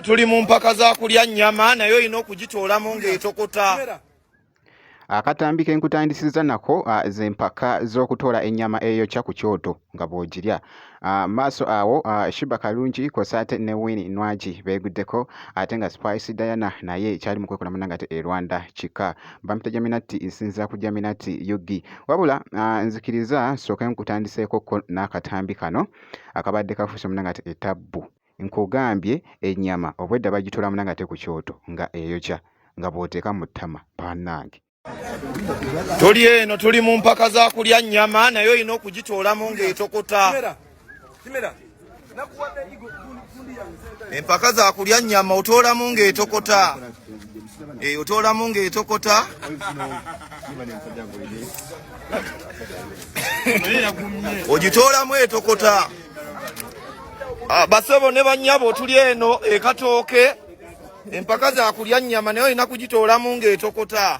tuli mu mpaka za kulya nnyama naye olina okugitoolamu ng'etokota akatambi ke nkutandisiza nako ah, ze mpaka z'okutoola ennyama eyokya ku kyoto nga bw'ogirya ah, maaso awo ah, shiba kalungi kwosa ate ne wini nwagi beeguddeko ate nga spice diana naye kyali mu kwekola munange ate e rwanda kika bampita jaminati nsinzira ku jaminati ug wabula uh, nzikiriza nsooke nkutandiseeko ko n'akatambi kano akabadde kafuuse muna nga etabbu nkugambye ennyama obwedda bagitoola muna nga te ku kyoto nga eyokya nga bw'oteeka mu ttama banange tuli eno tuli mu mpaka za kulya nnyama naye olina okugitoolamu ng'etokota empaka za kulya nyama otoolamu ng'etokota e, eh, otoolamu ng'etokota ogitoolamu etokota ah, basebo ne banyabo tuli eno ekatooke empaka za kulya nyama naye olina kugitoolamu ng'etokota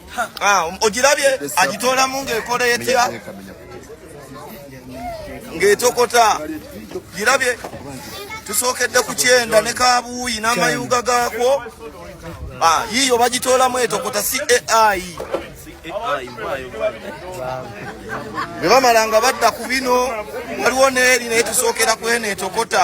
Ah, um, ogirabye agitoolamu ng'ekola etya ng'etokota girabye tusookedde ku kyenda ne kabuuyi n'amayuuga gaakwo ah, yiiyo bagitoolamu etokota si ai bwe bamala nga badda ku bino waliwo n'eri naye tusookera ku eno etokota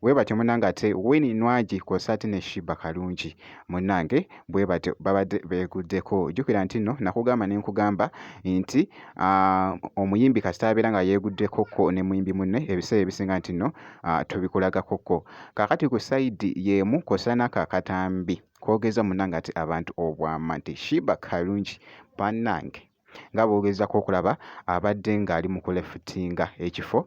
Webatyo munange ate Winnie Nwagi kwosa ate ne Shiba Kalungi munange bwebatyo babadde beguddeko. Jukira nti no nakugamba ne nkugamba nti uh, omuyimbi kasita abeera nga yeguddeko ko ne muyimbi munne ebiseera ebisinga nti no uh, tubikulagako ko. Kakati ku sayidi yemu kwosa naka katambi kogeza munange ati abantu obwama nti Shiba Kalungi banange nga bogezako okulaba abadde ng'ali mu kulefutinga ekifo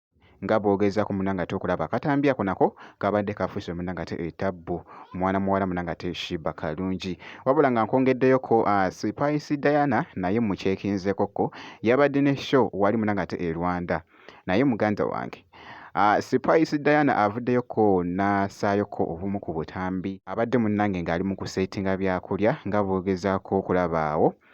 nga bwogeza ku munanga ate okulaba akatambi ako nako kabadde kafuuse munanga ate etabbu mwana muwala munanga ate shiba kalungi wabula nga nkwongeddeyoko ah, sipaisi diana naye mukyekinzekoko yabadde ne show wali munanga ate e rwanda naye muganda wange Uh, ah, Spice Diana avuddeyoko n'asaayoko obumu ku butambi abadde munnange ng'ali mu kuseetinga byakulya nga bw'ogezaako okulabaawo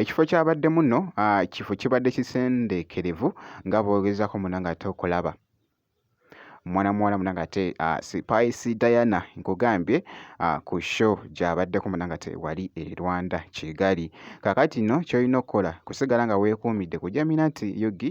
ekifo kyabaddemu nno ah, kifo kibadde kisendeekerevu nga bwogezaako muna nga ate okulaba mwana muwala muna nga ate ah, sipaisi diana nkugambye ah, ku show gyabaddeko muna nga te wali e rwanda kigali kakati nno kyolina okukola kusigala nga weekuumidde kujamina nti yugi